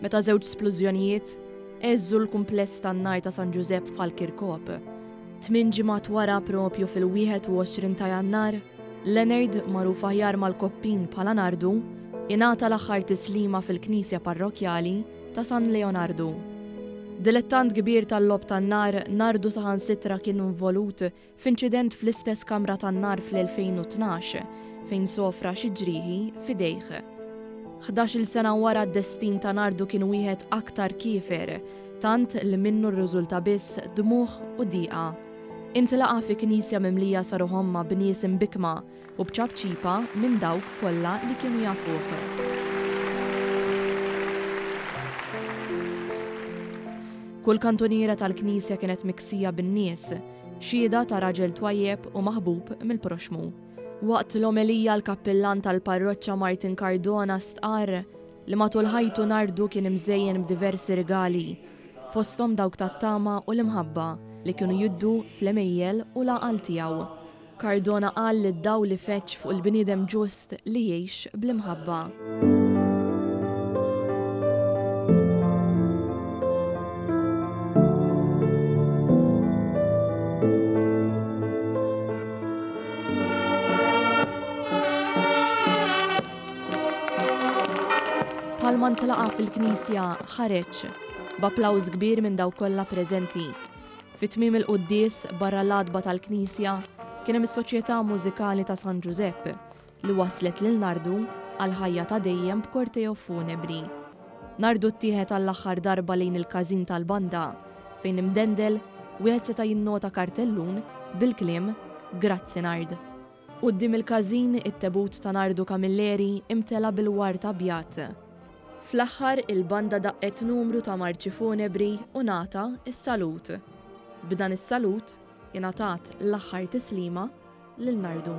meta żewġ splużjonijiet għeżżu l-kumpless tan-nar ta' San Ġużepp f'Ħal Kirkop. Tmien ġimgħat wara proprju fil-21 ta' Jannar, Leonard, magħruf aħjar mal-Koppin bħala Nardu, ingħata l-aħħar tislima fil-knisja parrokkjali ta' San Leonardu. Dilettant kbir tal-logħob tan-nar, Nardu saħansitra kien involut f'inċident fl-istess kamra tan-nar fl-2012 fejn sofra xi ġrieħi f'idejh. Ħdax-il sena wara d-destin ta' Nardu kien wieħed aktar kiefer, tant li minnu rriżulta biss dmugħ u diqa. Intlaqa' fi knisja mimlija sa ruħ ommha b'nies imbikkma, U b'ċapċipa minn dawk kollha li kienu jafuh. Kull kantuniera tal-knisja kienet miksija bin-nies, xhieda ta' raġel twajjeb u maħbub mill-proxxmu. Waqt l-omelija l-kappillan tal-parroċċa Martin Cardona stqarr li matul ħajtu Nardu kien imżejjen b'diversi rigali, fosthom dawk tat-tama u l-imħabba li kienu jiddu fl-għemejjel u l-għaqal tiegħu. Cardona qal li d-dawl ifeġġ fuq il-bniedem ġust li jgħix bl-imħabba. Bħalma ntlaqa' fil-knisja ħareġ b'applawż kbir minn dawk kollha preżenti. Fi tmiem il-quddies, barra l-għatba tal-knisja, kien hemm is-Soċjetà Mużikali ta' San Ġużepp, li wasslet lil Nardu għall-ħajja ta' dejjem b'korteo funebri. Nardu ttieħed għall-aħħar darba lejn il-każin tal-banda, fejn imdendel, wieħed seta' jinnota kartellun bil-kliem Grazzi Nard. Quddiem il-każin, it-tebut ta' Nardu Camilleri imtela' bil-ward abjad. Fl-aħħar, il-banda daqqet numru ta' marċi funebri u ngħata s-salut. B'dan is-salut, ingħatat l-aħħar tislima lil Nardu.